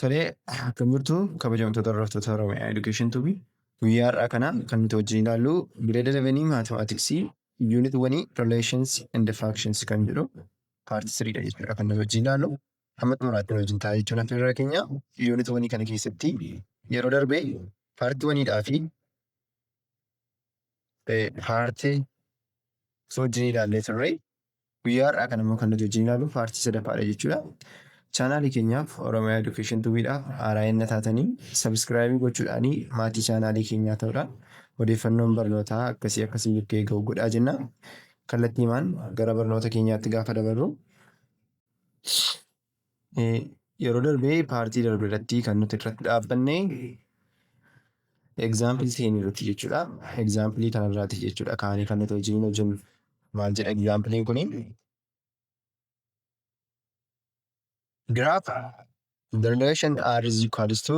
Tolee, akkam jirtu kabajamtoota hordoftoota Oromiyaa Education Tubi. Guyyaa har'aa kana kan nuti wajjin ilaallu grade 11 mathematics unit 1 relations and functions kan jedhu part 3 dha jechuudha kan nuti wajjin ilaallu. Amma xumuraatti nu wajjin ta'a jechuun affeerraa keenya. Unit 1 kana keessatti yeroo darbe part 1 dhaa fi part 2 wajjin ilaallee turre. Guyyaa har'aa kana immoo kan nuti wajjin ilaalu paartii sadaffaadha jechuudha. Chaanaalii keenyaaf Oromiyaa Education Tubiidhaaf haaraa yenna taatanii sabiskiraayibii gochuudhaanii maatii chaanaalii keenyaa ta'uudha. Odeeffannoon barnootaa akkasii akkasii bukkee ga'u godhaa jenna. Kallattiimaan gara barnoota keenyaatti gaafa dabarru. Yeroo darbee paartii darbe irratti kan nuti irratti dhaabbanne egzaampilii seenii irratti jechuudha. Egzaampilii kanarraati jechuudha kaanii kan nuti hojiin hojjennu. Maal jedha egzaampiliin kuni? Giraaf the relation R is equals to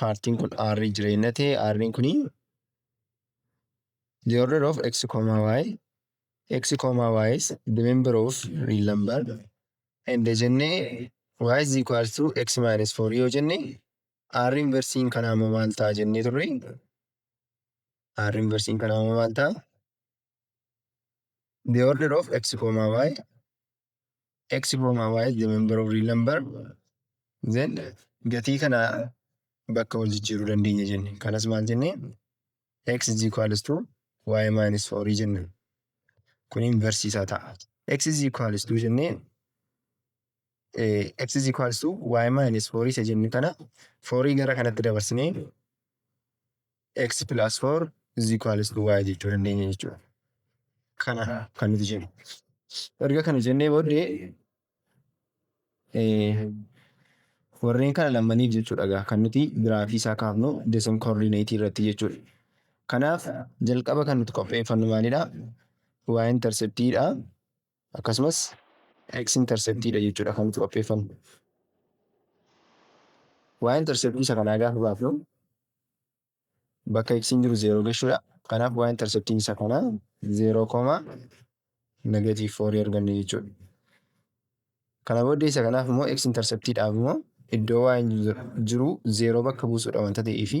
paartiin kun r jireenya ta'e r'n kun the order of x comma y x comma y is the member of real number and jenne y is equal to x minus 4 yoo jenne r inversiin kanaa immoo maal ta'a jennee turre r inversiin kanaa immoo maal ta'a the order of x comma y x comma y is the member of real number then gatii kana bakka wal jijjiiruu dandeenya jenne kanas maal jenne x is equals to y minus 4 jenne kun inverse isaa ta'a x is equals to jenne x is equals to y minus 4 isa jenne kana 4 gara kanatti dabarsinee x plus 4 is equals to y jechuu dandeenya jechuudha. Kana kan nuti jennu. Erga kana jennee booddee eh, warreen kana lammaniif jechuudha egaa kan nuti giraafii isaa kaafnu desim koordineetii irratti jechuudha. Kanaaf jalqaba kan nuti qopheeffannu maalidha? Waa interceptiidha. akkasumas x interceptii dha jechuudha kan nuti qopheeffannu. y interceptii isa kanaa gaafa baafnu bakka x jiru 0 geshuudha. Kanaaf y interceptiin isa kanaa 0 koma negative 4 arganne jechuudha. Kana booddee isa kanaaf immoo x interceptii dhaaf immoo iddoo y jiru 0 bakka buusuudha wanta ta'eefi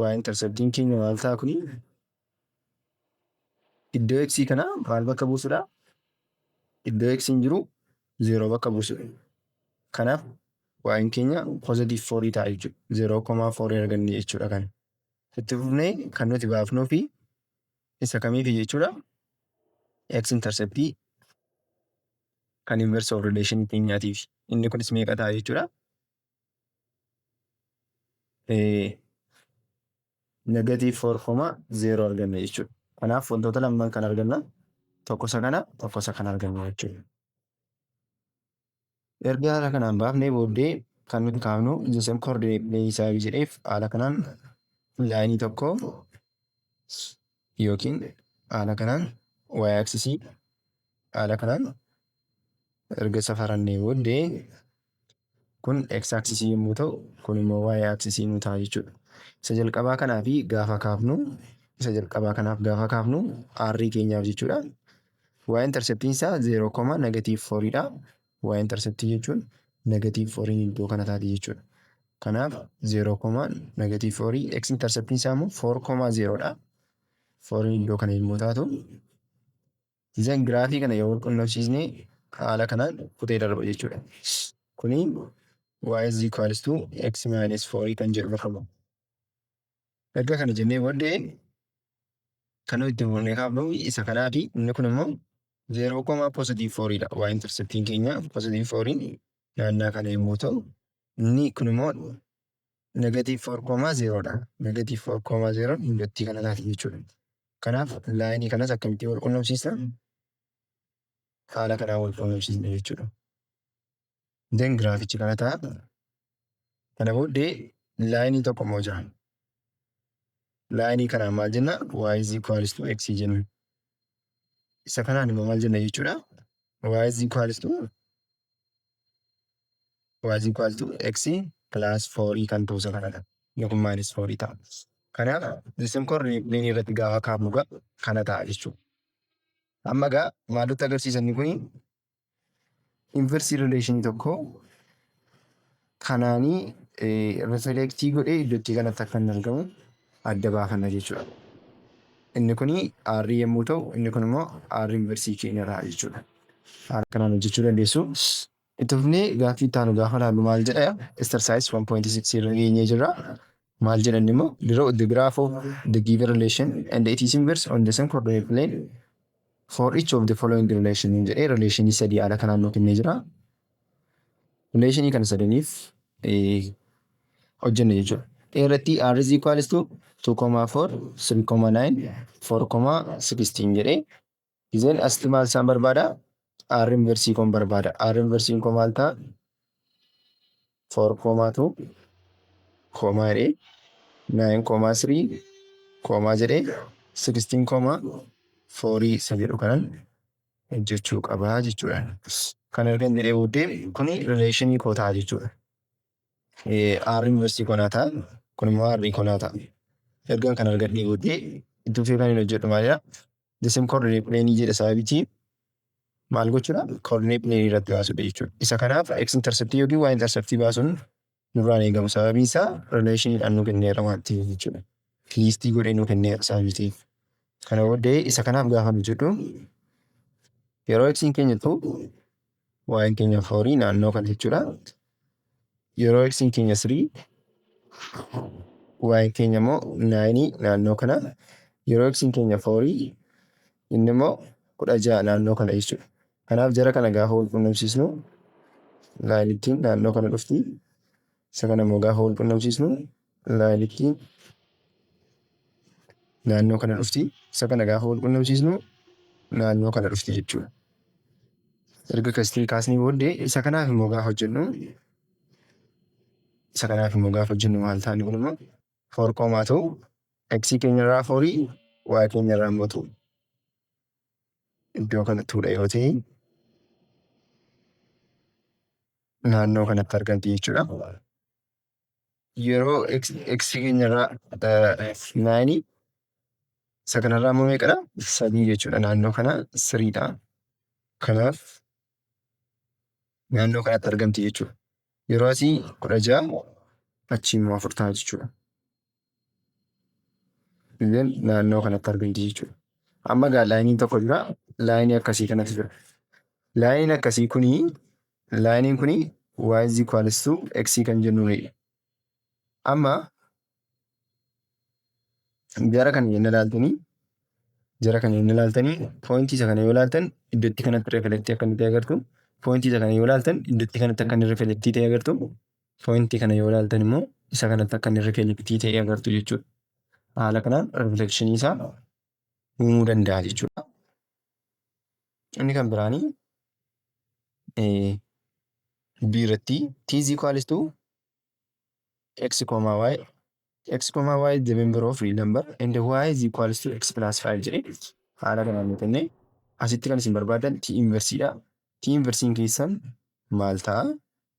waa interceptiin keenya maal ta'a kuni iddoo x kana maal bakka buusudha iddoo x hin jiru zeeroo bakka buusudha kanaaf waa'in keenya positive foorii ta'a jechuudha zeeroo komaa foorii arganne jechuudha kan itti fufnee kan nuti baafnuu fi isa kamiifi jechuudha x interceptii kan inverse of relation keenyaatiif inni kunis meeqa ta'a jechuudha negative 4 koma 0 arganna jechuudha. Kanaaf wantoota lamaan kan arganna tokko isa kana tokko isa kana arganna jechuudha. Erga haala kanaan baafnee booddee kan nuti kaafnu the same coordinate plane isaa yoo jedheef haala kanaan laayinii tokko yookiin haala kanaan y axisii haala kanaan erga safarannee booddee Kun x axisii yommuu ta'u, kun immoo y axisii nu ta'a jechuudha. Isa jalqabaa kanaaf gaafa kaafnu isa jalqabaa kanaaf gaafa kaafnu r keenyaaf jechuudha. y interceptiin isaa 0 koma negative 4 dha. y interceptii jechuun negative 4 iddoo kana taati jechuudha. Kanaaf 0 koma negative 4 x interceptiin isaa immoo 4 koma 0 dha. 4 iddoo kana yommuu taatu Isaan giraafii kana yoo walqunnamsiisne haala kanaan kutee darba jechuudha. Kuni y is equals to x minus 4 kan jedhu bakka bu'a. Erga kana jennee booddee kan nuti itti fufnee kaafnu isa kanaati. Inni kun immoo 0 koma positive 4 dha. Y interceptiin keenya positive 4 naannaa kana yommuu ta'u inni kun immoo Negative 4 koomaa 0 dha. Negative 4 koomaa 0 injottii kana taate jechuudha. Kanaaf laayinii kanas akkamittiin wal qunnamsiisna? Haala kanaan wal qunnamsiisna jechuudha. Den giraafichi kana ta'a. Kana booddee laayinii tokko immoo jira. Laayinii kanaan maal jenna? Y is equals to x jenna. Isa kanaan immoo maal jenna jechuudha? y is equals to y is equals to x plus 4 kan ta'u isa kanadha. Yookiin minus 4 ta'a. Kanaaf isin kun riipiliin irratti gaafa kaa'amu gaa kana ta'a jechuudha. Amma gaa maaltu agarsiisa inni kun inversii rileeshinii tokko kanaanii rifileektii godhee iddootti kanatti akka hin argamu adda baafanna jechuudha. Inni kun R yommuu ta'u inni kun immoo R inversii keenyadha jechuudha. Haala kanaan hojjechuu dandeessu. Itti fufnee gaaffii itti aanu gaafa laallu maal jedha? Exercise 1.6 irra geenyee jirra. Maal jedha inni immoo? Draw the graph of the given relation and its inverse on the same coordinate plane for each of the following relation hin jedhee relationii sadii haala kanaan nuu kennee jira. Relationii kana sadaniif eh, hojjenna jechuudha. A irratti r is equals to 2,4, 3,9, 4,16 jedhee Gizeen asti maal isaan barbaada? R inversii koon barbaada. R inversiin koo maal ta'a? Foor koomaa tuu koomaa jedhee naayin koomaa sirii koomaa jedhee sikstiin koomaa foorii isa jedhu kanan hojjechuu qabaa jechuudha. Kan ergan jedhee booddee kuni rileeshinii koo ta'a jechuudha. Aarri inversii konaa ta'a. Kun immoo aarrii konaa ta'a. Ergaan kan argadhee booddee itti fufee kan hin hojjedhu maalidha? Disim koordinee pileenii jedha sababitii maal gochuudha? Koordinee pileenii irratti baasuudha jechuudha. Isa kanaaf x interceptii yookiin y interceptii baasuun nurraan eegamu sababii isaa rileeshiniidhaan nu kenneera waan ta'eef jechuudha. Liistii godhee nu kenneera sababii ta'eef. Kana booddee isa kanaaf gaafa nu jedhu yeroo x keenya ta'u waa'een keenya foorii naannoo kana jechuudha. Yeroo eksiin keenya sirii waa'een keenya immoo naayinii naannoo kana yeroo eksiin keenya foorii inni immoo kudha ja'a naannoo kana jechuudha. Kanaaf jara kana gaafa wal qunnamsiisnu naayinittiin naannoo kana dhufti. Isa kana immoo gaafa wal qunnamsiisnu Laayilikii naannoo kana dhufti. Isa kana gaafa wal qunnamsiisnu naannoo kana dhufti jechuudha. Erga kastiin kaasnii booddee isa kanaaf immoo gaafa hojjennu isa kanaaf immoo gaafa hojjennu maal taane kun immoo foor koomaa ta'u x keenya irraa foorii y keenya irraa immoo ta'u iddoo kana tuudha yoo ta'e naannoo kanatti argamti jechuudha. yeroo x x keenyarraa naayinii isa kanarraa immoo meeqadha sadii jechuudha naannoo kana siriidha kanaaf naannoo kanatti argamti jechuudha yeroo asii kudha ja'a achii immoo afur ta'a jechuudha Illeen naannoo kanatti argamti jechuudha. Amma egaa laayiniin tokko jira. Laayinii akkasii kanatu jira. Laayiniin akkasii kuni laayiniin kuni y is equals to x kan jennuunidha. Amma jara kana yenna ilaaltanii jara kana yenna ilaaltanii poointii isa kana yoo ilaaltan iddootti kanatti reflektii akka inni ta'e agartu. Poointii isa kana yoo ilaaltan iddootti kanatti akka inni reflektii ta'e agartu. poointii kana yoo ilaaltan immoo isa kanatti akka inni rifleektii ta'ee agartu jechuudha. Haala kanaan rifleekshinii isaa uumuu danda'a jechuudha. Inni kan biraanii B irratti T is equals to x comma y x comma y is the member of real number and y is equals to x plus 5 jedhe haala kanaan yoo kenne asitti kan isin barbaadan T inversiidha. T inversiin keessan maal ta'a?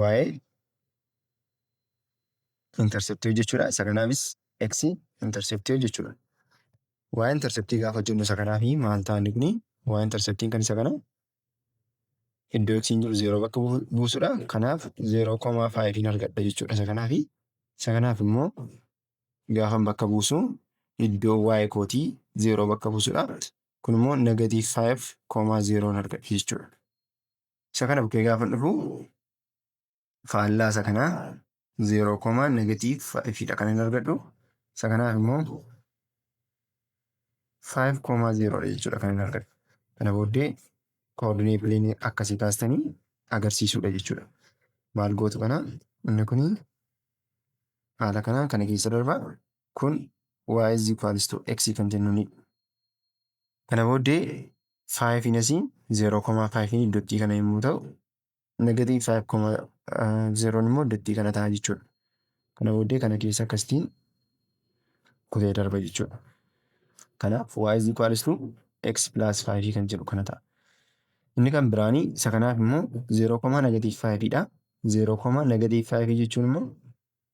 waa'ee interceptii hojjechuudha. Isa kanaafis x interceptii hojjechuudha. Waa'ee interceptii gaafa hojjennu isa kanaafi maal ta'a inni kuni waa'ee interceptiin kan isa kana iddoo x hin jiru zeeroo bakka bu- buusudha. Kanaaf zeeroo komaa faayiviin argadha jechuudha isa kanaafi. Isa kanaaf immoo gaafan bakka buusu iddoo waa'ee kootii zeeroo bakka buusudha. Kun immoo negatiiv faayiv komaa zeeroon argadha jechuudha. Isa kana bukkee gaafa dhufu faallaa isa kanaa 0 koomaa negatiiv 5 dha kan hin argadhu. Isa kanaaf immoo 5 koomaa 0 dha jechuudha kan hin argadhu. Kana booddee koordinee pileenii akkasii kaastanii agarsiisuudha jechuudha. Maal gootu kana inni kun haala kanaan kana keessa darbaa kun y is equals to x kan jennuuni. Kana booddee 5n asii 0,5n iddottii kana yommuu ta'u negative 5,0 immoo iddottii kana ta'a jechuudha. Kana booddee kana keessa akkasitiin kutee darba jechuudha. Kanaaf y is equals to x plus 5 kan jedhu kana ta'a. Inni kan biraani isa kanaaf immoo 0, negative 5 dha. 0, negative 5 jechuun immoo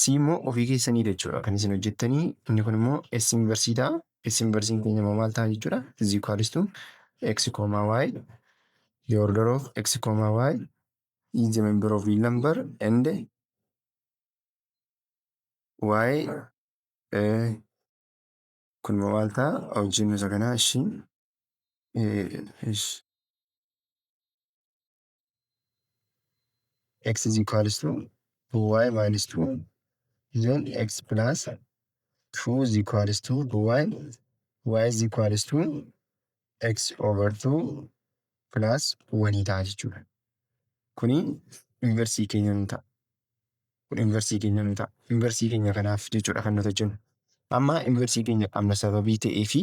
C immoo ofii keessaniidha jechuudha kan isin hojjettanii inni kun immoo S inversii ta'a. S inversiin keenya immoo maal ta'a jechuudha is equals to x comma y the order of x comma y is the member of real number and y eh, kun immoo maal ta'a hojjennu isa kanaa ishii eh, ish- x is equals to 2y minus 2 then x plus 2 is equals to 2y y is equals to x over 2 plus 1 ta'a jechuudha. Kuni inversii keenya nu ta'a. Kun inversii keenya nu ta'a. Inversii keenya kanaaf jechuudha kan nuti hojjennu. Amma inversii keenya qabna sababii ta'ee fi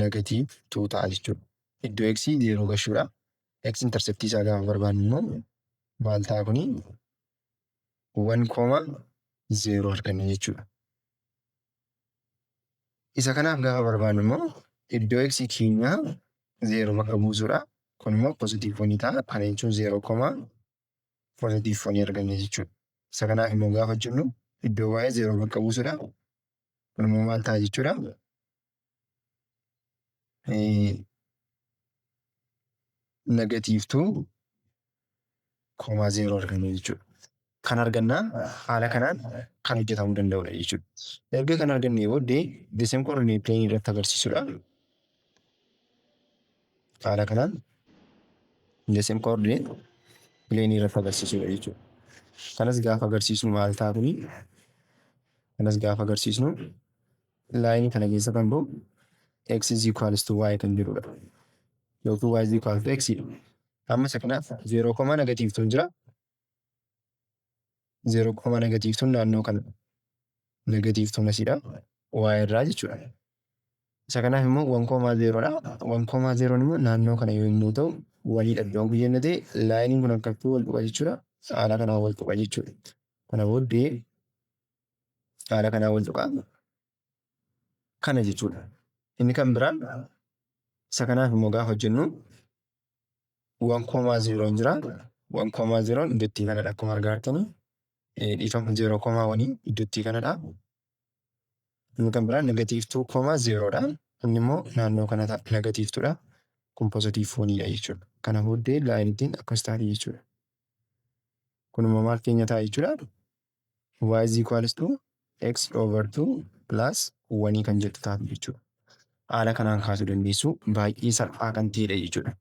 negative 2 ta'a jechuudha. Iddoo x yeroo gashuudha. x interceptii isaa gaafa barbaannu immoo maal ta'a kuni 1,0 arganna jechuudha. Isa kanaaf gaafa barbaannu immoo iddoo x keenyaa 0 bakka buusuudha. Kun immoo positive 1 ta'a. Kana jechuun 0 koma positive 1 arganna jechuudha. Isa kanaaf immoo gaafa jennu iddoo y 0 bakka buusuudha. Kun immoo maal ta'a jechuudha? Negatiiv 2,0 arganna jechuudha. Kan argannaa haala kanaan kan hojjetamuu danda'udha jechuudha. Erga kan argannee booddee deseem koordinee pileenii irratti agarsiisudha. Haala kanaan deseem koordinee pileenii irratti agarsiisudha jechuudha. Kanas gaafa agarsiisnu maal ta'a kuni? Kanas gaafa agarsiisnu Laayinii kana keessa kan ba'u x is equals to y kan jirudha. Yookiin y is equal to x dha. Amma isa kanaaf 0 koma negatiivtuun jira. 0 koma negatiivtuun naannoo kana negatiivtuun asidha. y irraa jechuudha. Isa kanaaf immoo 1 koma 0 dha. 1 koma 0 immoo naannoo kana yommuu ta'u waliidha iddoon kun jennee ta'e laayiniin kun akkattuu wal tuqa jechuudha. Haala kanaan wal tuqa jechuudha. Kana booddee haala kanaa wal tuqaa kana jechuudha. Inni kan biraan isa kanaaf immoo gaafa hojjennu waan koomaa zeeroon jira. Waan koomaa zeeroon iddottii kanadha akkuma argaa jirtanii. Dhiifama zeeroo koomaa wanii iddottii kanadha. Inni kan biraan negatiiv tuu koomaa zeeroodha. Inni immoo naannoo kana ta'a negatiiv tuudha. Kun pozitiiv fooniidha jechuudha. Kana booddee laayinitiin akkas taati jechuudha. Kun immoo maal keenya ta'a jechuudha. y is equals to x over 2 plus 1 kan jettu taatu jechuudha. Haala kanaan kaasuu dandeessu baay'ee salphaa kan ta'edha jechuudha.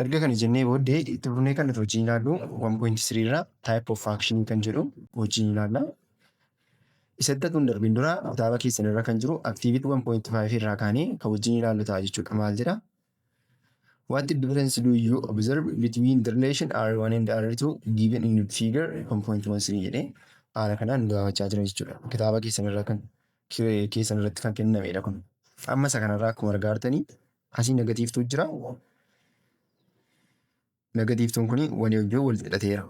Erga kana jennee booddee itti fufnee kan nuti hojiin ilaallu 1.3 irraa type of action kan jedhu hojiin ilaalla. Isatti kun darbiin dura kitaaba keessan irra kan jiru activity 1.5 irraa kaanee kan hojiin ilaallu ta'a jechuudha. Maal jedha? What difference do you observe between the relation R1 and R2 given in figure 1.13 jedhee haala kanaan gaafachaa jira jechuudha. Kitaaba keessan irraa kan keessan irratti kan kennamedha kun. Amma isa kanarraa akkuma argaa jirtanii asii negatiivtuu jira. Negatiivtuun kun walii wajjin wal hidhateera.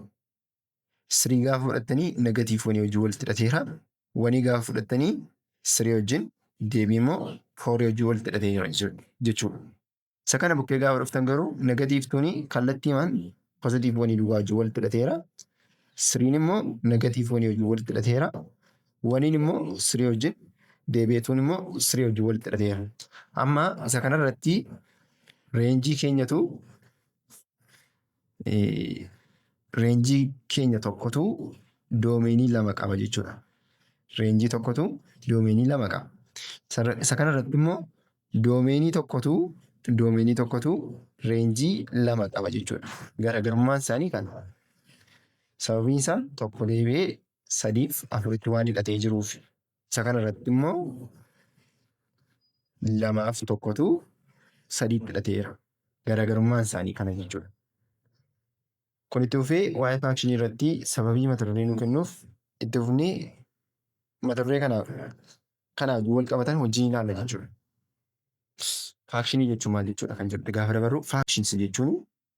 Sirii gaafa fudhattanii negatiif wanii wajjin walitti hidhateera. Wanii gaafa fudhattanii sirii wajjin deebii immoo foorii wajjin walitti hidhateera jechuudha. Isa kana bukkee gaafa dhuftan garuu negatiif tuni kallattiimaan pozitiif wanii duwwaa wajjin walitti hidhateera. Siriin immoo negatiif wanii wajjin walitti hidhateera. Waniin immoo sirii wajjin deebi'eetuun immoo sirii wajjin walitti hidhateera. Amma isa kanarratti reenjii keenyatu Reenjii keenya tokkotu doomeenii lama qaba jechuudha. Reenjii tokkotu doomeenii lama qaba. Sarra- Isa kanarratti immoo doomeenii tokkotu doomeenii tokkotu reenjii lama qaba jechuudha. Garaagarummaan isaanii kana. Sababiin isaa tokko deebi'ee sadiif afuritti waan hidhatee jiruuf. Isa kana irratti immoo lamaaf tokkotu sadii fudhateera. Garaagarummaan isaanii kana jechuudha. Kun itti fufee waa'ee faakshinii irratti sababii mata duree nu kennuuf itti fufnee mata duree kana kana wajjin wal qabatan hojii ni ilaalla jechuudha. Faakshinii jechuun maal jechuudha kan jedhu gaafa dabarru faakshins jechuun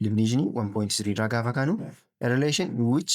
divinishinii 1.3 irraa gaafa kaanu a relation in which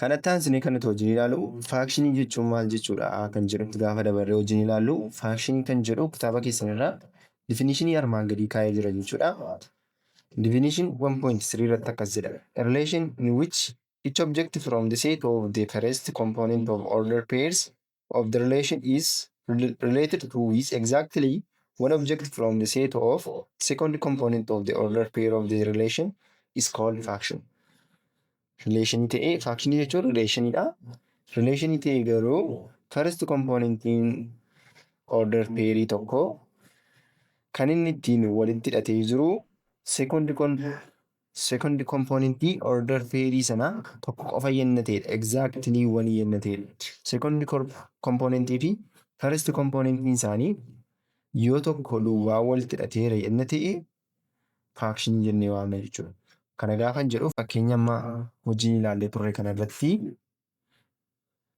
Kanatti aansinee kan nuti wajjin ilaalu faakshinii jechuun maal jechuudha kan jedhutti gaafa dabarree wajjin ilaallu faakshinii kan jedhu kitaaba keessan irraa difinishinii armaan gadii kaa'ee jira jechuudha. Definition 1.3 irratti akkas jedha. A relation in which each object from the set of the first component of order pairs of the relation is related to is exactly one object from the set of second component of the order pair of the relation is called faction. Relation ta'ee faction jechuun relation dha. Relation ta'ee garuu first componentiin order pairii tokko kan inni ittiin walitti hidhatee jiru second Second component order theory sana tokko qofa yenna ta'edha. Exactly one yenna ta'edha. Second component fi first component isaanii yoo tokko duwwaa walitti hidhateera yenna ta'e fraction jennee waamna jechuudha. Kana gaafan jedhu fakkeenya amma hojii ilaallee turre kana irratti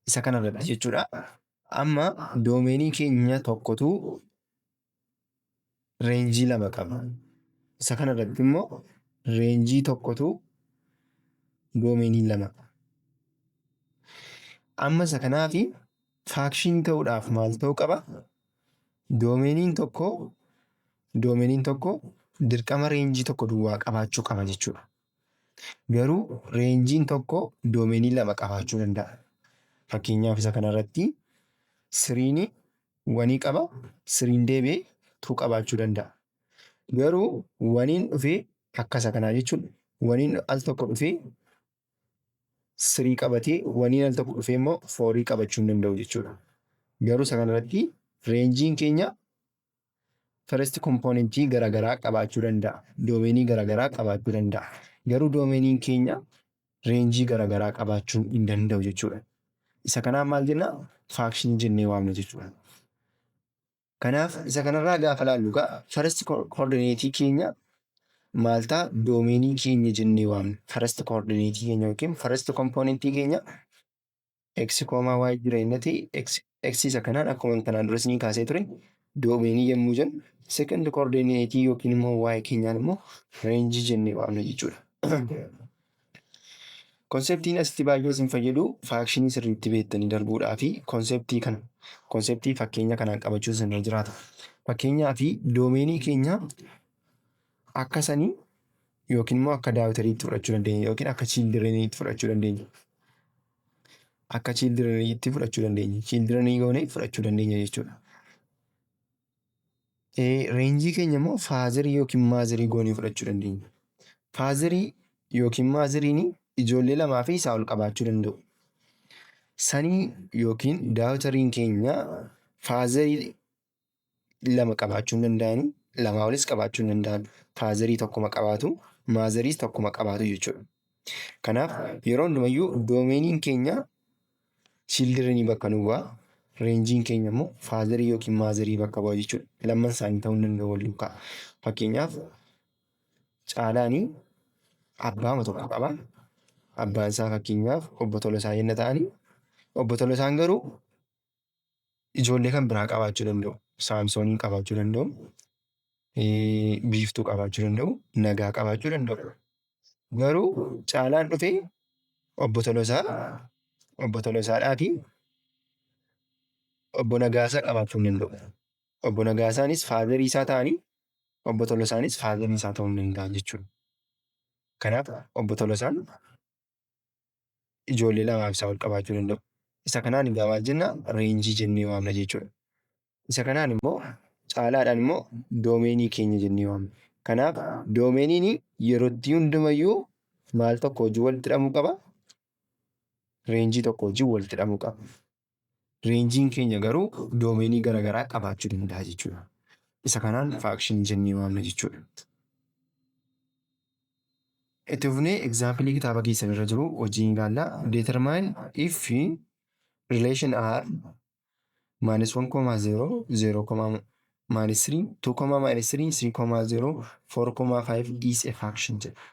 isa kana irratti jechuudha. Amma doomeenii keenya tokkotu reenjii lama qaba. Isa kana irratti immoo reenjii tokkotu doomeenii lama qaba. Amma isa kanaaf faakshinii ta'uudhaaf maal ta'uu qaba? Doomeeniin tokko doomeeniin tokko dirqama reenjii tokko duwwaa qabaachuu qaba jechuudha. Garuu reenjiin tokko doomeenii lama qabaachuu danda'a. Fakkeenyaaf isa kanarratti siriini wanii qaba siriin deebi'ee tuu qabaachuu danda'a. Garuu waniin dhufee akkasa kanaa jechuun waniin al tokko dhufee sirii qabatee waniin al tokko dhufee immoo foorii qabachuu hin danda'u jechuudha. Garuu isa kanarratti reenjiin keenya first kompoonentii garaagaraa qabaachuu danda'a. Doomeenii garaagaraa qabaachuu danda'a. Garuu doomeniin keenya reenjii garaagaraa qabaachuu hin danda'u jechuudha. Isa kanaan maal jenna? Faakshinii jennee waamna jechuudha. Kanaaf isa kanarraa gaafa laallu egaa first koordineetii keenya maal ta'a? Doomeenii keenya jennee waamna. First koordineetii keenya yookiin first kompoonentii keenya x koomaa y jireenyati x isa kanaan akkuma kanaan dura isinii kaasee ture doomeenii yommuu jennu second coordinate yookiin immoo y keenyaan immoo reenjii jennee waamna jechuudha. Konseptiin asitti baay'ee isin fayyadu faakshinii sirriitti beektanii darbuudhaa fi konseptii kana konseptii fakkeenya kanaan qabachuun isin irra jiraata. Fakkeenyaa fi doomeenii keenya Akka sanii yookiin immoo akka daawitariitti fudhachuu dandeenya yookiin akka chiildireniitti fudhachuu dandeenya. Akka chiildireniitti fudhachuu dandeenya. Chiildirenii goonee fudhachuu dandeenya jechuudha. Reenjii keenya immoo faazarii yookiin maazarii goonee fudhachuu dandeenya. Faazarii yookiin maazariin ijoollee lamaa fi isaa ol qabaachuu danda'u. Sanii yookiin daawitariin keenya faazarii lama qabaachuu hin danda'ani. Lamaa olis qabaachuu hin danda'an. Faazarii tokkuma qabaatu, maazariis tokkuma qabaatu jechuudha. Kanaaf yeroo hundumayyuu doomeeniin keenya childirenii bakka nu bu'a. Reenjiin keenya immoo faazarii yookiin maazarii bakka bu'a jechuudha. Lamman isaanii ta'uu hin danda'u wal duukaa. Fakkeenyaaf Caalaani abbaama tokko qaba. Abbaan isaa fakkeenyaaf obbo Tolosaa yenna ta'ani, obbo Tolosaan garuu ijoollee kan biraa qabaachuu danda'u. Saamsooniin qabaachuu danda'u. Biiftuu qabaachuu danda'u. Nagaa qabaachuu danda'u. Garuu caalaan dhufee obbo Tolosaa obbo Tolosaadhaa fi obbo Nagaasaa qabaachuu hin danda'u. Obbo Nagaasaanis faazarii isaa ta'anii obbo Tolosaanis faazarii isaa ta'uu hin danda'an jechuudha. Kanaaf obbo Tolosaan ijoollee lamaa fi isaa ol qabaachuu danda'u. Isa kanaan egaa maal jenna reenjii jennee waamna jechuudha. Isa kanaan immoo caalaadhaan immoo doomeenii keenya jennee waamna. Kanaaf doomeeniin yerootti hundumayyuu maal tokko wajjin walitti hidhamuu qaba? Reenjii tokko wajjin walitti hidhamuu qaba. Reenjiin keenya garuu doomeenii gara garaa qabaachuu danda'a jechuudha. Isa kanaan faakshinii jennee waamna jechuudha. Itti fufnee egzaampilii kitaaba keessan irra jiru hojiin ilaalla. Determine if relation r minus 1,0, 0, minus 3 2 comma minus 3 3 comma 0 4 comma 5 is a faction jedha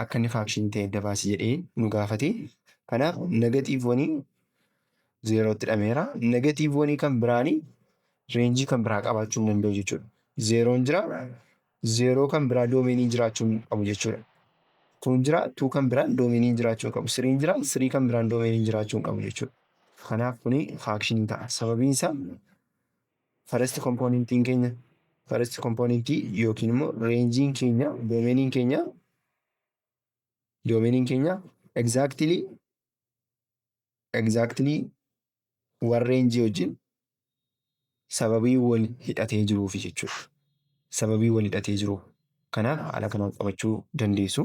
akka inni faction ta'e adda baasi jedhee nu gaafate kanaaf negatiiv wanii zeerootti dhameera negatiiv wanii kan biraanii reenjii kan biraa qabaachuu hin danda'u jechuudha zeeroon jira zeeroo kan biraa doomeenii jiraachuu hin qabu jechuudha tuun jira tuu kan biraan doomeenii jiraachuu hin qabu siriin jira sirii kan biraan doomeenii jiraachuu hin qabu jechuudha kanaaf kuni faakshinii ta'a sababiin isaa First componentiin keenya first componentii yookiin immoo reenjiin keenya doomeniin keenya doomeniin keenya exactly exactly wan reenjii wajjin sababii wal hidhatee jiruufi jechuudha. Sababii wal hidhatee jiru kanaaf haala kanaan qabachuu dandeessu.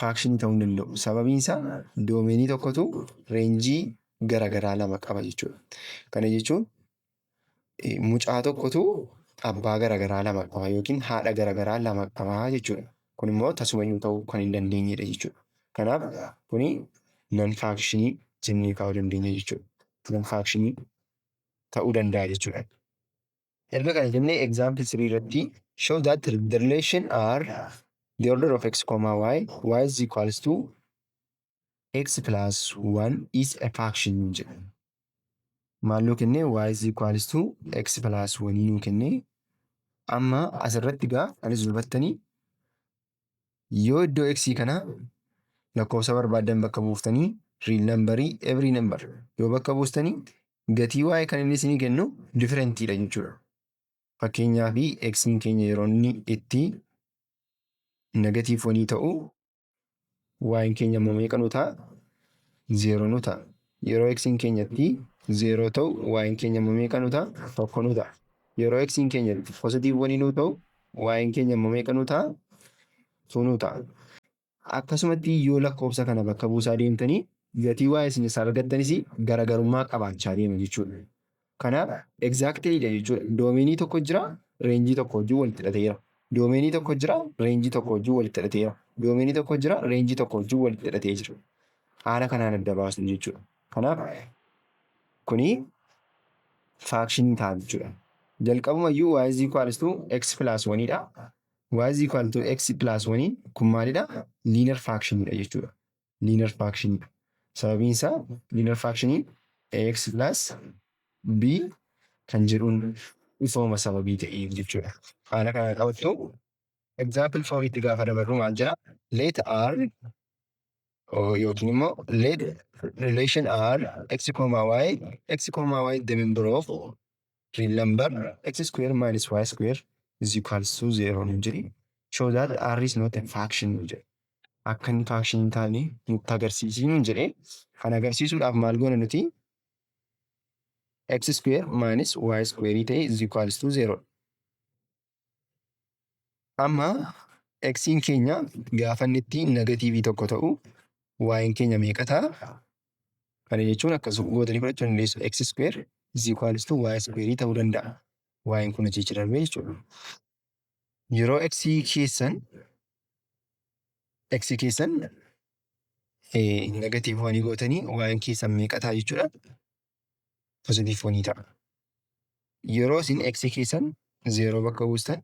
faakshinii ta'uu hin danda'u. Sababiin isaa doomeenii tokkotu reenjii gara garaa lama qaba jechuudha. Kana jechuun eh, mucaa tokkotu abbaa gara garaa lama qaba yookiin haadha gara garaa lama qaba jechuudha. Kun immoo tasumayyuu ta'uu kan hin dandeenyedha jechuudha. Kanaaf kuni nan faakshinii jennee kaa'uu dandeenya jechuudha. Nan faakshinii ta'uu danda'a jechuudha. Erga kana jennee example 3 irratti show that the relation are the order of x comma y y is equals to x plus 1 is a fraction nuun jedha. Maal nuu kennee y is equals to x plus 1 nuu kennee amma asirratti gaa anis dubattanii yoo iddoo x kana lakkoofsa barbaaddan bakka buuftanii real number every number yoo bakka buustanii gatii y kan inni isinii kennu different dha jechuudha. Fakkeenyaa fi x keenya yeroo inni itti negatiiv wanii ta'u y'n keenya immoo meeqa nuu ta'a? 0 nuu ta'a. Yeroo x'n keenya itti 0 ta'u y'n keenya immoo meeqa nuu ta'a? 1 nuu ta'a. Yeroo x'n keenya itti positive 1 nuu ta'u y'n keenya immoo meeqa nuu ta'a? 2 nuu ta'a. Akkasumatti yoo lakkoofsa kana bakka buusaa deemtanii gatii y isin isaa argattanis garagarummaa qabaachaa deema jechuudha. Kana exactly dha jechuudha. Doomeenii tokko jira, reenjii tokko wajjin walitti hidhateera. Doomeenii tokko jira, reenjii tokko wajjin walitti hidhateera. Doomeenii tokko jira, reenjii tokko wajjin walitti hidhatee jira. Haala kanaan adda baasnu jechuudha. Kanaaf kuni faakshinii ta'a jechuudha. Jalqabuma iyyuu y is equals to x plus 1 dha. y is equal to x plus 1 kun maalidha? Liinar faakshinii dha jechuudha. liinar firaakshiniidha. Sababiin isaa liinar firaakshiniin ax plus b kan jedhuun ifooma sababii ta'eef jechuudha. Haala kanaan qabattu example four itti gaafa dabarru maal jedha? Let r yookiin immoo let relation r x comma y x comma y demember of Real number x square minus y square is equals to zero nu jedhi. Show that r is not a fraction nu jedhe. Akka inni fraction hin taane nutti agarsiisii nu jedhe. Kan agarsiisuudhaaf maal goona nuti? x square minus y square ta'e is equals to zero. Amma x'n keenya gaafa inni itti negatiivii tokko ta'u y'n keenya meeqa ta'a? Kana jechuun akkas gootanii fudhachuu dandeessu. x square is equal to y square ta'uu danda'a. y'n kun achi achi darbee jechuudha. Yeroo x keessan x keessan negatiivii wanii gootanii y'n keessan meeqa ta'a jechuudha? positive 4 ni ta'a. Yeroo isin x keessan 0 bakka buustan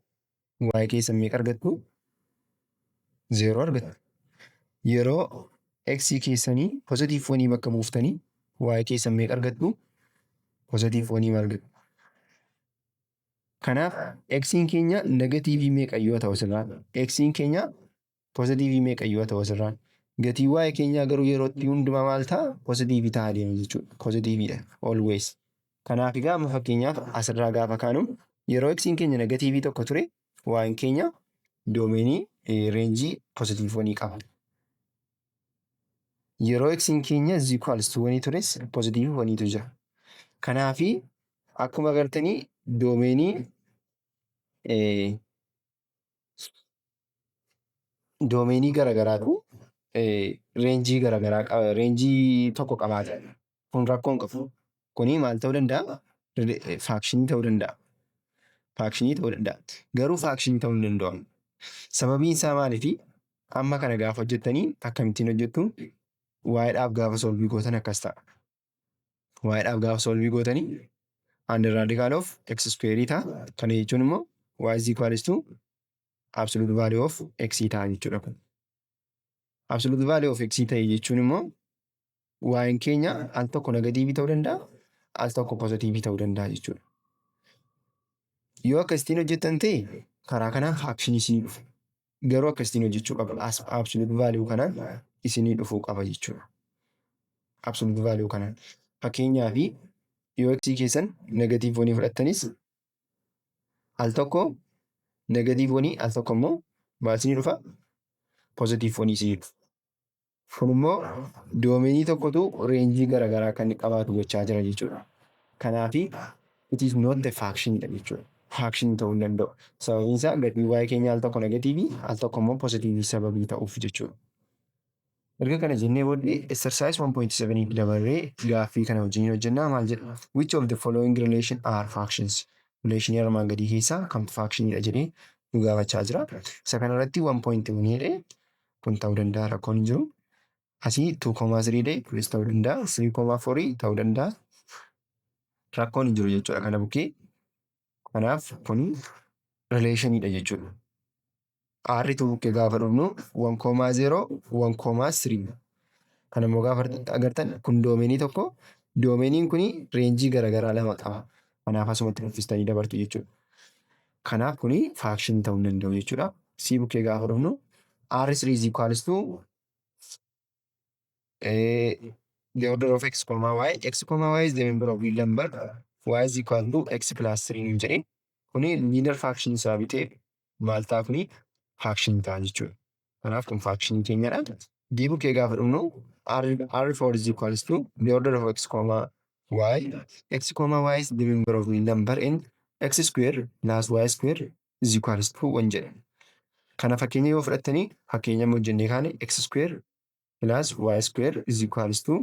y keessan meeqa argattu? 0 argattu. Yeroo x keessanii positive 4 bakka buuftanii y keessan meeqa argattu? Positive 4 argattu. Kanaaf x'n keenya negatiivii meeqa yoo ta'u silaa x'n keenya Positiivii meeqa iyyuu haa ta'u asirraan. Gatiin waa'ee keenyaa garuu yeroo itti hundumaa maal ta'a? Positiivii ta'a deema jechuudha. Positiiviidha. Always. Kanaaf egaa amma fakkeenyaaf asirraa gaafa kaanu yeroo eksiin keenya negatiivii tokko ture waa'een keenya doomeenii reenjii positiivwanii qaba. Yeroo eksiin keenya ziikwaalstuwanii tures positiivwaniitu jira. Kanaaf akkuma agartanii doomeenii doomeenii garagaraatu reenjii garagaraa reenjii tokko qabaata. Kun rakkoo hin qabu. Kuni maal ta'uu danda'a? Faakshinii ta'uu danda'a. Faakshinii ta'uu danda'a. Garuu faakshinii ta'uu hin danda'amu. Sababiin isaa maaliifi? Amma kana gaafa hojjettanii akkamittiin hojjettu? Waa'eedhaaf gaafa solvii gootan akkas ta'a. waa'idhaaf gaafa solvii gootanii under radical of x square ta'a kana jechuun immoo y is equals to absolute value of x ta'a jechuudha kun absolute value of x ta'e jechuun immoo y'n keenya al tokko negatiivii ta'uu danda'a al tokko pozitiivii ta'uu danda'a jechuudha yoo akka ittiin hojjettan ta'e karaa kanaan faakshinii isinii dhufa garuu akkasitiin hojjechuu qaba. As absolute value kanaan isinii dhufuu qaba jechuudha. Absolute value kanaan. Fakkeenyaa fi yoo x keessan negatiiv wanii fudhattanis al tokko negatiiv wanii al tokko immoo maal isinii dhufa? Pozitiiv wanii isinii dhufa. Kun immoo doomeenii tokkotu reenjii garagaraa akka inni qabaatu gochaa jira jechuudha. Kanaaf it is not a faction dha jechuudha. Faction ta'uu hin danda'u. Sababiin isaa gatiin y keenya al tokko negatiivii al tokko immoo positiivii sababii ta'uuf jechuudha. Erga kana jennee booddee exercise 1.7 tti dabarree gaaffii kana wajjin hojjennaa maal jedha? Which of the following relation are factions? Relation armaan gadii keessaa kamtu faction dha jedhee nu gaafachaa jira. Isa kanarratti 1.1 jedhee kun ta'uu danda'a rakkoon hin jiru. Asii 2,3 dee kunis ta'uu danda'a 3,4 ta'uu danda'a rakkoon hin jiru jechuudha kana bukkee. Kanaaf kun rileeshiniidha jechuudha. Aarri tu bukkee gaafa dhufnu 1,0 1,3 kana immoo gaafa agartan kun doomeenii tokko doomeeniin kun reenjii garaagaraa lama qaba. Kanaaf asumatti nuffistanii dabartu jechuudha. Kanaaf kuni faakshinii ta'uu hin danda'u jechuudha. C bukkee gaafa dhufnu R3 is equals to eh, the order of x comma y x comma y is the member of real number y is equal to x plus 3 nuun jedhe kuni linear faction isaa bitee maal ta'a kuni faction ta'a jechuudha. Kanaaf kun faakshinii keenyadha. D bukkee gaafa dhumnu R4 is equals to the order of x comma y. x comma y is the member of the number in x square plus y square is equals to 1 jedha. Kana fakkeenya yoo fudhattanii fakkeenya hojjennee kaane x square plus y square is equals to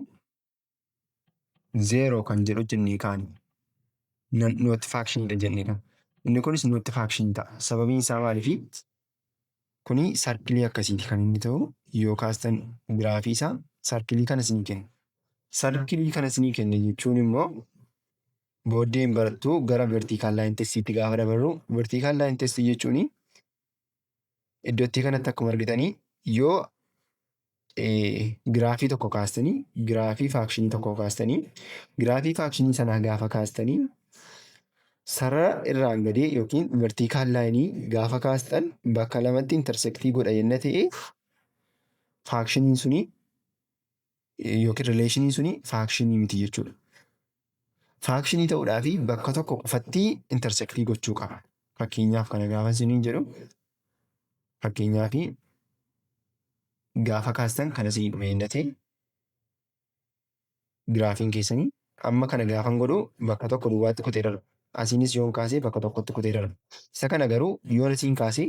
zeeroo kan jedhu jennee kaane nootti faakshinidha jennee kan inni kunis nootti faakshin ta'a sababiin isaa maaliifi kuni sarkilii akkasiiti kan inni ta'u yoo kaastan giraafii isaa sarkilii kana isinii kenna sarkilii kana isinii kenna jechuun immoo booddeen barattu gara vertiikaal laayin testiitti gaafa dabarru vertiikaal laayin testii jechuun Iddottii kanatti akkuma argitanii yoo giraafii tokko kaastanii giraafii faakshinii tokko kaastanii giraafii faakshinii sanaa gaafa kaastanii sarara irraan gadee yookiin vertiikaal laayinii gaafa kaastan bakka lamatti intersektii godha yenna ta'e faakshiniin sunii yookiin rileeshiniin suni faakshinii miti jechuudha. Faakshinii ta'uudhaa fi bakka tokko qofatti intersektii gochuu qaba. Fakkeenyaaf kana gaafa isiniin jedhu fakkeenyaa fi gaafa kaastan kana isinii dhume hin dhatee giraafiin keessanii amma kana gaafan godhu bakka tokko duwwaatti kutee darba. Asiinis yoon kaasee bakka tokkotti kutee darba. Isa kana garuu yoon isiin kaasee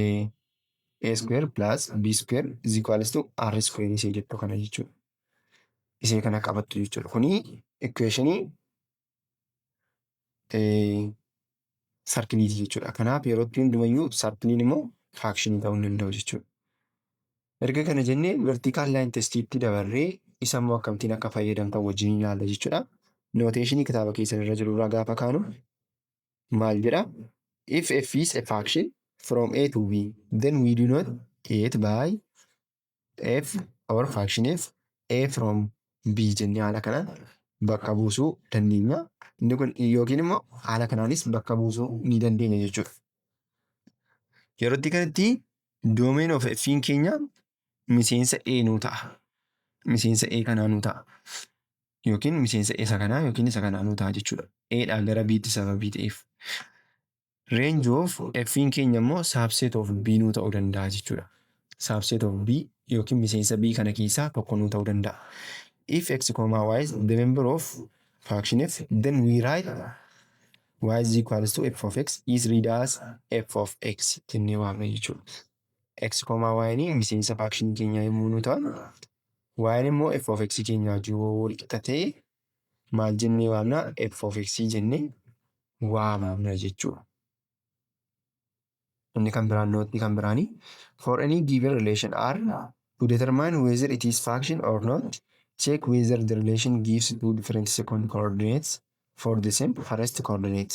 A A square plus B square is equals to R square isee jettu kana jechuudha. Isee kana qabattu jechuudha. Kuni equationii sarkiliiti jechuudha. Kanaaf yeroo itti hundumayyuu sarkiliin immoo faakshinii ta'uu hin danda'u jechuudha. Erga kana jennee vertical line testiitti dabarree isa immoo akkamittiin akka fayyadamtan wajjin ilaalla jechuudha. Nooteeshinii kitaaba keessan irra jiru irraa gaafa kaanu maal jedha if f is a function from a to b then we do not it by f or function f a from b jennee haala kanaan bakka buusuu dandeenya. Inni kun yookiin immoo haala kanaanis bakka buusuu ni dandeenya jechuudha. Yeroo itti kanatti doomeen of f'n keenya miseensa ee nuu ta'a miseensa ee kanaa nuu ta'a yookiin miseensa isa kanaa yookiin isa kanaa nuu ta'a jechuudha eedhaa gara biitti sababii ta'eef range of f'n keenya immoo subset of b nuu ta'uu danda'a jechuudha subset of b yookiin miseensa b kana keessaa tokko nuu ta'uu danda'a if x comma y is the member of faction f then we write y is equals to f of x is read as f of x jennee waamna jechuudha. x koomaa y'n miseensa faakshinii keenyaa yommuu nu ta'an y'n immoo f of x keenyaa wajjin yoo wal qixa ta'e maal jennee waamna f of x jennee waamna jechuudha. Inni kan biraan nootni kan biraanii for any given relation r to determine whether it is function or not check whether the relation gives two different second coordinates for the same first coordinate.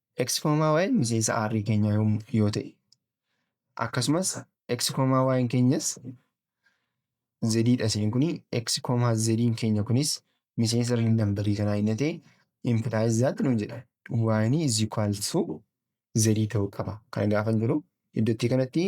Eksikoomaa waa'een miseensa aarrii keenyaa yoo ta'e akkasumas eksikoomaa waa'een keenyas zediidha seen kun eksikoomaa zediin keenya kunis miseensa riil nambarii kanaa inni ta'e impilaayiz zaatti nuun jedha waa'een is equal to zedii ta'uu qaba kana gaafan jiru iddottii kanatti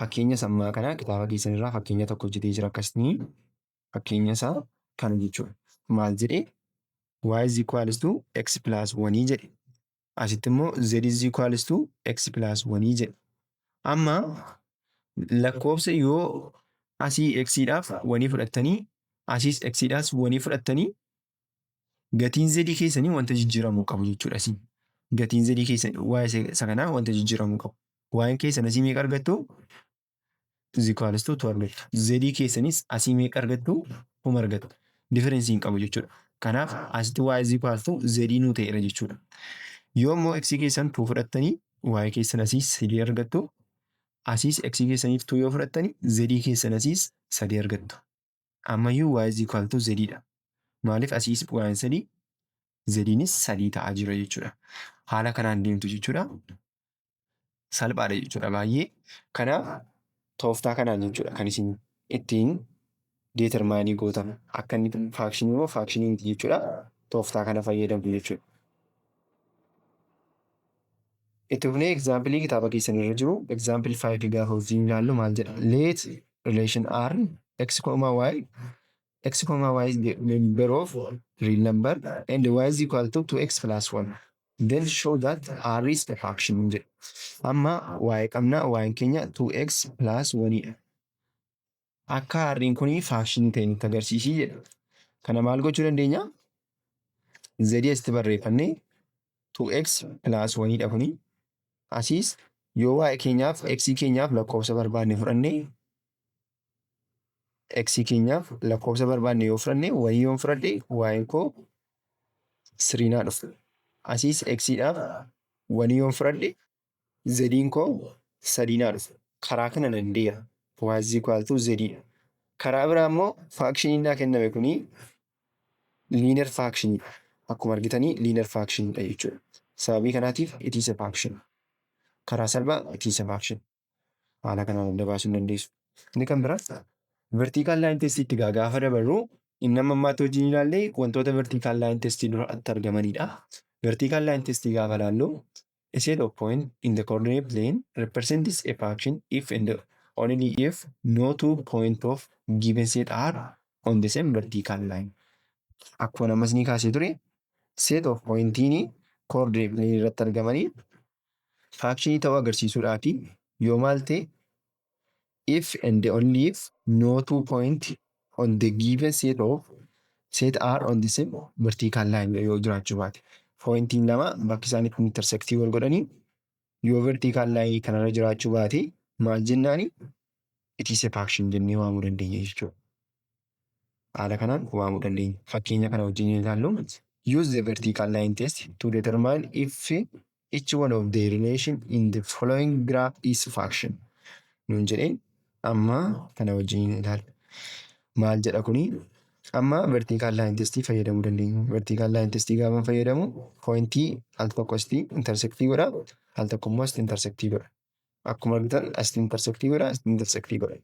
Fakkeenya sammaa kana kitaaba keessan irraa fakkeenya tokko hojjetee jira akkasni fakkeenya isaa kana jechuudha. Maal jedhe y is equals to x plus 1 jedhe asitti immoo z is equals to x plus 1 jedhe. Amma lakkoofsa yoo asii x dhaaf wanii fudhattanii asiis x dhaas wanii fudhattanii Gatiin zedii keessanii wanta jijjiiramuu qabu jechuudha isin. Gatiin zedii keessan waa'ee isa- isa kanaa wanta jijjiiramuu qabu. Waa'een keessan asii meeqa argattu? Zikwaalistuu tu argattu. Zedii keessanis asii meeqa argattu? Kuma argattu. Diferensii hin qabu jechuudha. Kanaaf asitti waa'ee zikwaalistuu zedii nuu ta'eera jechuudha. Yoo immoo x keessan tuu fudhattanii waa'ee keessan asiis sadii argattu. Asiis x keessaniif tuu yoo fudhattanii zedii keessan asiis sadii argattu. Ammayyuu y is equal to z dha. Maaliif asii is y sadii zediinis sadii ta'aa jira jechuudha. Haala kanaan deemtu jechuudha. Salphaadha jechuudha baay'ee. Kanaaf tooftaa kanaan jechuudha kan isin ittiin deetermaayinii gootan. Akka inni faakshinii moo faakshinii miti jechuudha. Tooftaa kana fayyadamtu jechuudha. Itti fufnee egzaampilii kitaaba keessan irra jiru egzaampil 5 gaafa wajjin ilaallu maal jedha? Let relation r x comma y x comma y is the member of real number and y is equal to 2x plus 1 then show that r is a fraction jedha. Amma y qabna y keenya 2x plus 1 dha. Akka harreen kun faashinii ta'e nutti agarsiisii jedha. Kana maal gochuu dandeenya? Zedii asitti barreeffannee 2x plus 1 dha kuni. Asiis yoo waa'ee keenyaaf x keenyaaf lakkoofsa barbaanne fudhanne x keenyaaf lakkoofsa barbaanne yoo fudhanne wayii yoon fudhadhe waa'een koo siriinaa dhufu. Asiis x dhaaf wanii yoon fudhadhe zediin koo sadii naa dhufe karaa kana nan deera y is equal to zediidha karaa biraa immoo faakshiniin naa kenname kuni liinar faakshiniidha akkuma argitanii liinar faakshiniidha jechuudha sababii kanaatiif itiisa faakshin karaa salphaa itiisa faakshin haala kanaan adda baasuu hin dandeessu inni kan biraa vertiikaal laayin testii itti gaa gaafa dabarru inni amma ammaatti hojii ni ilaallee wantoota vertiikaal laayin testii dura itti argamanidha. Vertiikaal laayin testii gaafa ilaallu A set of points in the coordinate plane represents a function if and only if no two points of given set are on the same vertical line. Akkuma namas ni kaasee ture set of pointiin coordinate plane irratti argamanii faakshinii ta'uu agarsiisuudhaa fi yoo maal ta'e if and only if no two point on the given set of set are on the same vertical line yoo jiraachuu baate pointiin lama bakki isaan itti intersectii wal godhanii yoo vertical line kanarra jiraachuu baate maal jennaani it is a faction jennee waamuu dandeenya jechuudha. Haala kanaan waamuu dandeenya. Fakkeenya kana wajjin yoo ilaallu use the vertical line test to determine if each one of the relation in the following graph is function nuun jedhee amma kana wajjin ilaalla. Maal jedha kuni? Amma vertical line test fayyadamuu dandeenya. Vertical line test gaafa fayyadamu pointii al tokko asitti intersectii godha al tokko immoo asitti intersectii godha. Akkuma argitan asitti intersectii godha asitti intersectii godha.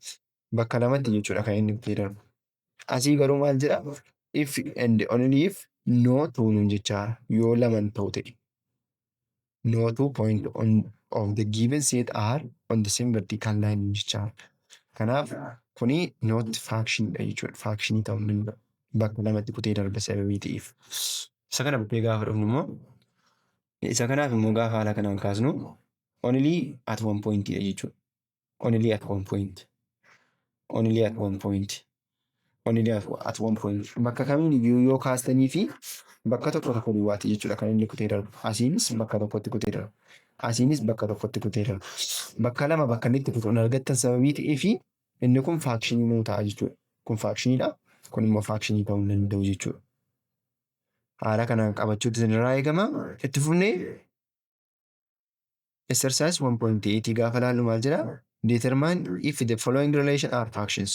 Bakka lamatti jechuudha kan inni itti darbu. Asii garuu maal jedha? If and only if no two nuun jechaa yoo laman ta'u ta'e. No two point on of the given set are on the same vertical line nuun jechaa. Kanaaf kuni not faction dha jechuudha. Faction ta'uu hin danda'u. Bakka lamatti kutee darba sababii ta'eef. Isa kana bukkee gaafa dhufnu immoo isa kanaaf immoo gaafa haala kanaan kaasnu only at one point dha jechuudha. only at one point only at one point only at one point bakka kamiin iyyuu yoo kaastanii fi bakka tokko tokko duwwaatti jechuudha kan inni kutee darbu asiinis bakka tokkotti kutee darbu asiinis bakka tokkotti kutee darbu bakka lama bakka inni itti kutu hin argattan sababii ta'ee fi inni kun faakshinii nuu ta'a jechuudha kun faakshiniidha kun immoo faakshinii ta'uu hin danda'u jechuudha haala kanaan qabachuutu isinirraa eegama itti fufnee Exercise 1.8 gaafa laallu maal jedha? Determine if the following relation are factions.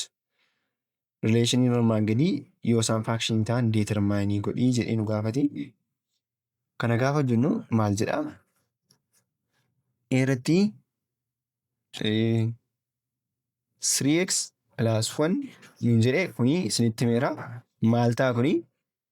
Relationii normaan gadii yoo isaan faction ta'an determine godhii jedhee nu gaafate. Kana gaafa jennu maal jedha? Eeratti 3x plus 1 nuun jedhe kuni isinitti meera. Maal ta'a kuni?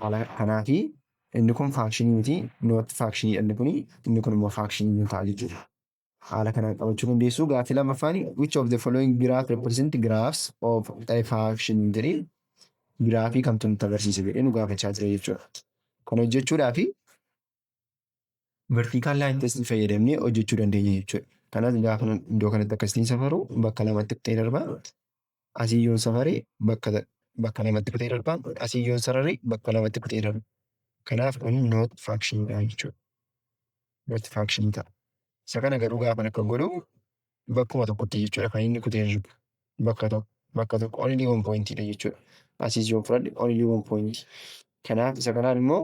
Haala kanaafi inni kun faakshinii miti, noot faakshiniidha inni kun, inni kun immoo faakshinii ni ta'a jechuudha. Haala kanaan qabachuu dandeessu. Gaaffii lammaffaan which of the following graph represent graphs of a faction jedhee giraafii kamtu nutti agarsiisa jedhee nu gaafachaa jira jechuudha. Kana hojjechuudhaaf Vertical line test fayyadamnee hojjechuu dandeenya jechuudha. Kanas gaafa nan iddoo kanatti akkasitiin safaru bakka lamatti kutee darba. Asii yoon safare bakka bakka lamatti kutee darba. Asii yoon sarare bakka lamatti kutee darba. Kanaaf kun not function dha jechuudha. Not function ta'a. Isa kana garuu gaafa akka godhu bakkuma tokkotti jechuudha kan inni kutee jiru bakka tokko bakka tokko only one point dha jechuudha asiis yoon fudhadhe only one point kanaaf isa kanaan immoo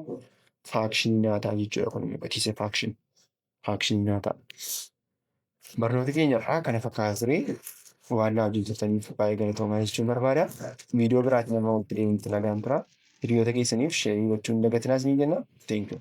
faakshinii naa ta'a jechuudha kun immoo it is a faction faakshinii naa ta'a barnoota keenya irraa kana fakkaata ture waan naa wajjin turtaniif baay'ee galatoomaa jechuun barbaada viidiyoo biraatiin amma walitti deemuutti nagaan tura hiriyoota keessaniif sheerii gochuun dagatinaas ni jenna thank you